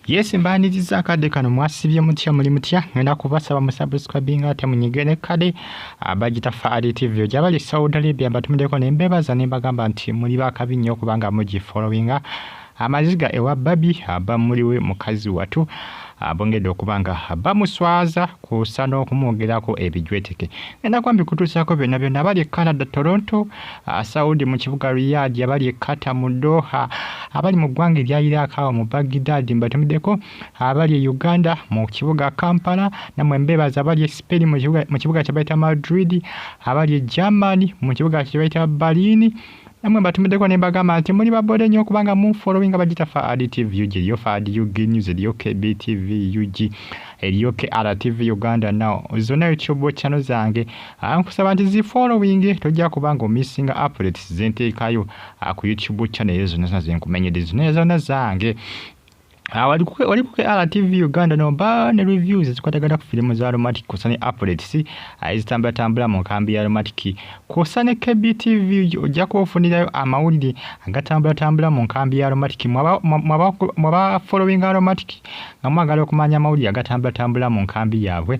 Yes mbaniriza akadde kano mwasibye mutya muli mutya ngenda kubasaba musubscribing ate munyigere kade abagita Fahari TV oja bali Saudi Arabia batumideko ne mbebaza ne bagamba nti muli bakabi nnyo kubanga muji followinga amaziga ewa babi aba muliwe mukazi watu abongedde okuba nga bamuswaza kusa n'okumwogerako ebijweteke ngenda kwambi kutuusaako byonna byonna abali e Canada Toronto Ah, Saudi mu kibuga Riyadh abali e Qatar mu Doha abali mu ggwanga erya Iraq awo mu Baghdad mbatumiddeko abali e Uganda mu kibuga Kampala namwe mbeebaza abali e Spain mu kibuga kye bayita Madrid abali e Germany mu kibuga kye bayita Berlin namwe mbatumiddeko ne mbagamba nti muli babode nnyo kubanga mu following abagita faad tv ug eriyo faad ug news eriyo kb tv ug eriyo kr tv uganda now zonna youtube channel zange ankusaba nti zi following tojja kuba nga omissinga updates zenteekayo ah, ku youtube channel ezo zonna zona zenkumenyedde zonna zona zange ah, wali ku rtv uganda nomba ne reviews ezikwatagana ku firimu za aromatic kwosa ne updates ah, ezitambulatambula mu nkambi ya aromatic kwosa ne kbtv ojja kuba ofunirayo amawulire agatambulatambula mu nkambi ya aromatic mwaba following aromatic nga mwagala okumanya amawulire agatambulatambula mu nkambi yaabwe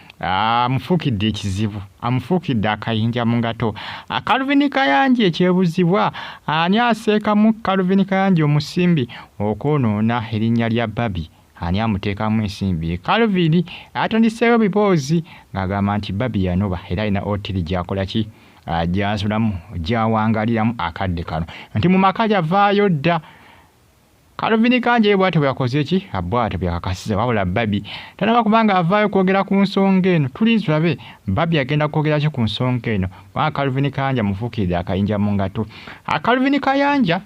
amufuukidde ekizibu amufuukidde akayinja mu ngato akaluvini kayanji ekyebuzibwa ani aseekamu kaluvini kayanji omusimbi okwonoona erinnya lya babi ani amuteekamu ensimbi kaluvini atandiseewo biboozi ng'agamba nti babi yanoba era alina otiri gyakola ki ah, gyasulamu gyawangaliramu akadde kano nti mu maka gyavaayo dda Calvin Kanja ye bwatyo bweyakoze ki bwatyo bweyakakasiza wabula Babi tanaba kubanga avaayo kwogera ku nsonga eno tuli tulabe Babi agenda kwogera ki ku nsonga eno kubanga Calvin Kanja mufuukiridde akayinja mu ngato Calvin Kayanja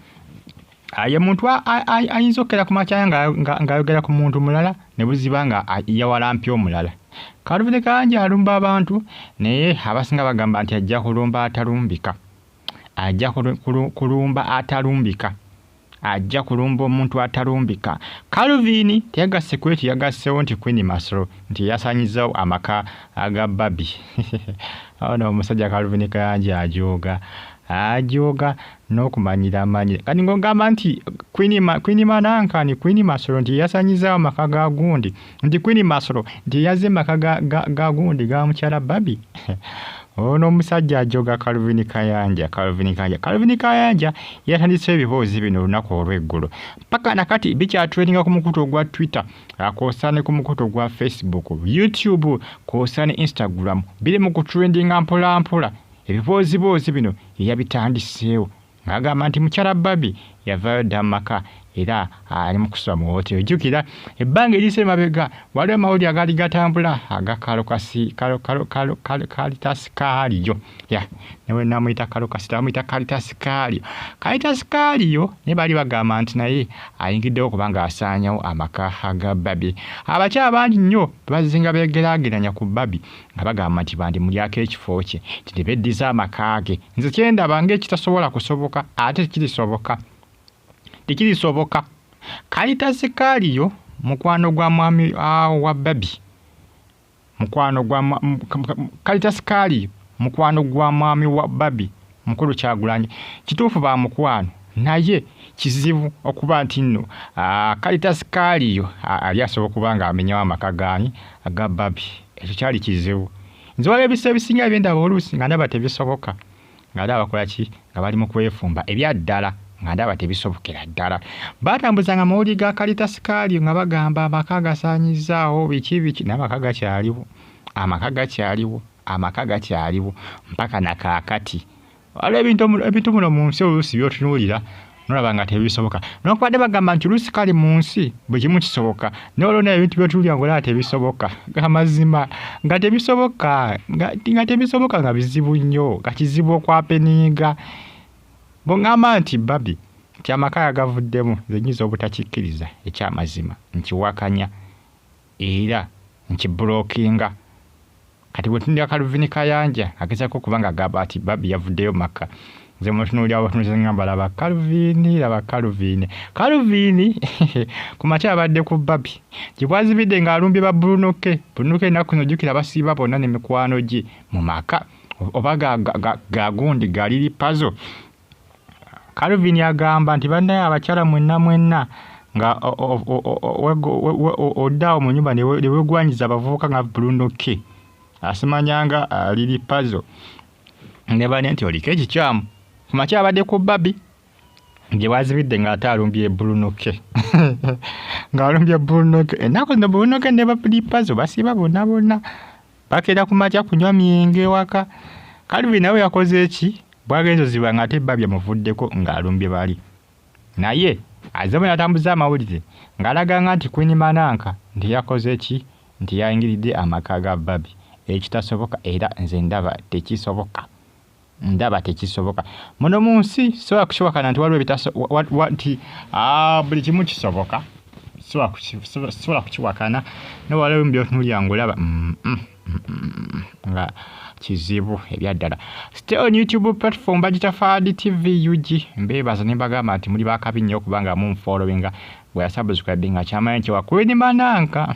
ye muntu ayinza okukera ku makyaya ng'ayogera ku muntu mulala ne buziba nga yawalampya omulala Calvin Kayanja alumba abantu naye abasinga bagamba nti ajja kulumba atalumbika ajja kulumba atalumbika ajja kulumba omuntu atalumbika calvin teyagassi kweti yagassewo nti queen masro nti yasanyizawo amaka aga babi ono omusajja calvin kayanji ajooga ajooga n'okumanyira amanyire kati ng'ogamba nti kwini manankani kwini masolo nti yasanyizawo amaka ga gundi nti kwini masolo nti yaze maka ga, ga, ga gundi ga mukyala babi ono omusajja ajoga calvin kayanja calvin kayanja calvin kayanja yatandise ebiboozi bino olunaku olweggulo mpaka nakati bikyatreninga ku mukutu ogwa twitter akoosane ku mukutu ogwa facebook youtube koosane instagram biri mu kutrendinga mpolampola ebibooziboozi bino eyabitandiseewo ng'agamba nti mukyala Barbie yavaayo dda mu maka era ali mu kusula mu wootero. Jjukira ebbanga eriyise emabega waliwo amawulire agaali gatambula aga kalitasikaaliyo newe namuyita kalokasita bamuyita kalitasikaaliyo kalitasikaaliyo naye baali bagamba nti naye ayingiddewo kubanga asaanyawo amaka ga babi abakyala bangi nnyo bazinga beegeraageranya ku babi nga bagamba nti bandimulyako ekifo kye nti ne beddiza amaka ge nze kyendaba ng'ekitasobola kusoboka ate tekirisoboka tekirisoboka kayita zikaaliyo mukwano gwa mwami ah, wa babi mukwano gwa kayita sikaaliyo mukwano gwa mwami wa babi mukulu kyagulanyi kituufu ba mukwano naye kizibu okuba nti nno kalitasi kaaliyo ali asobola okuba nga amenyawo amaka gaani aga babi ekyo kyali kizibu nze waliwo ebisa ebisinga ebyendaba oluusi nga ndaba tebisoboka nga ndaba bakola ki nga bali mu kwefumba ebyaddala nga ndaba tebisobokera ddala baatambuzanga amawulire ga kalitasi kaaliyo nga bagamba amaka gasaanyizaawo biki biki naye amaka gakyaliwo amaka gakyaliwo amaka gakyaliwo mpaka na kaakati waliwo ebintu ebintu muno mu nsi oluusi byotunuulira nolaba nga tebisoboka nokubadde bagamba nti oluusi kali mu nsi buli kimu kisoboka nolwo naye ebintu byotunuulira nga olaba tebisoboka amazima nga tebisoboka nga tebisoboka nga bizibu nnyo nga kizibu okwapeniiga bongamba nti babi nti amaka yagavuddemu zenyinza obutakikkiriza ekyamazima nkiwakanya era nkibulokinga kati bwetunira kaluvini kayanja agezako okuba nga agamba ati babi yavuddeyo makka nze mutunuulira butunuzi ngamba laba kaluvini laba kaluvini kaluvini ku makya abadde ku babi gyebwazibidde ng'alumbye ba bulunoke bulunoke ennaku zino jjukira basiiba bonna ne mikwano gye mu maka oba gagundi galiri pazo Calvin agamba nti bannaye abakyala mwenna mwenna nga oddaawo mu nyumba ne wegwanyiza abavubuka nga bulundokke asimanyanga aliri uh, pazo ne bane nti oliko ekikyamu ku makya abadde ku babi gye bwazibidde ng'ate alumbye bulunoke ng'alumbye bulunoke ennaku zino bulunoke ne bapuli pazo basiiba bonna bonna bakera ku makya kunywa myenge ewaka kalvin nawe yakoze eki bwagenzo ziba nga ate babya muvuddeko ng'alumbye bali naye azemu natambuza amawulire ng'alaganga nti kwini mananka nti yakoze eki nti yayingiridde amaka ga babi ekitasoboka era nze ndaba tekisoboka ndaba tekisoboka muno mu nsi sobola kukiwakana nti waliwo ebitasobokanti ah, buli kimu kisoboka sobola kukiwakana naye waliwo byotunulira ngaolaba mm, mm, mm, nga kizibu ebyaddala stay on youtube platform bagita fad tv ug mbebaza nembagamba nti muli bakabi nnyo okubanga mumfolowinga bweyasabuzikadde nga kyamanyi nti wakwedimananka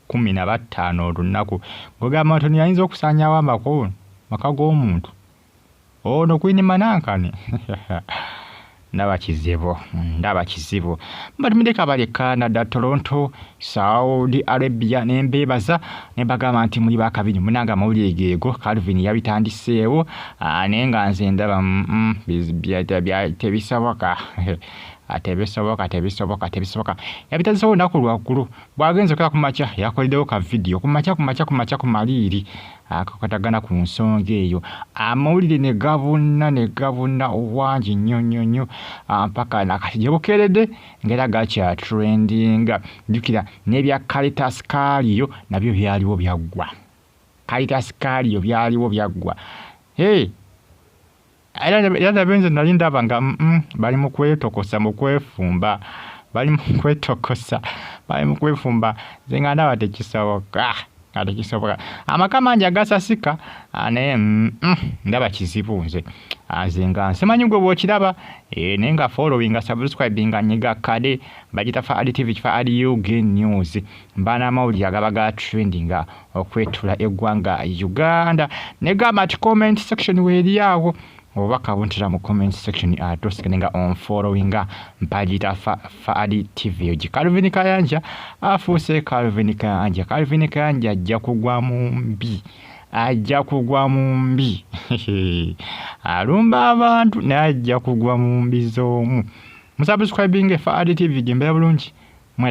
kumi na battaano olunnaku ng'ogamba nti yayinza okusaanyawo amako maka g'omuntu ono kwini manankani ndaba kizibu ndaba kizibu batumide kabali canada toronto saudi arabia nembeebaza ne bagamba nti muli bakabiri munanga amawulire geego calvin yabitandiseewo ah, naye nga nze ndaba mm, mm, tebisoboka tebisoboka tebisoboka tebisoboka yabitandiseewo olunaku lwaggulu Bwagenze okera ku makya yakoledewo ka video ku makya ku makya ku makya ku maliiri akakatagana ku nsonga eyo amawulire ne gabunna ne gabunna obwangi nnyo nnyo nnyo mpaka nakati gye bukeeredde ngaera gakya trendinga jjukira n'ebya caritas kaaliyo nabyo byaliwo byaggwa caritas kaaliyo byaliwo byaggwa hey! era era nabe nze nali ndaba nga mm, mm, bali mu kwetokosa mu kwefumba bali mu kwetokosa bali mu kwefumba nze nga ndaba tekisoboka nga tekisoboka amaka mangi agasasika ah, naye mm, mm, ndaba kizibu nze ah, nze nga nsimanyi gwe bwokiraba eh, naye nga followinga subscribinga nyiga kade bagita fa adi tv kifa adi ug news mba n'amawulire agaba ga trendinga okwetula eggwanga uganda negamba nti comment section weeri awo oba kabuntira mu comment section atosikane nga on followinga mpagiyita faali tv ogi calvin kayanja afuuse calvin kayanja calvin kayanja ajja kugwa mu mbi ajja kugwa mu mbi alumba abantu naye ajja kugwa mu mbi z'omu musubscribinge faali tv gembera bulungi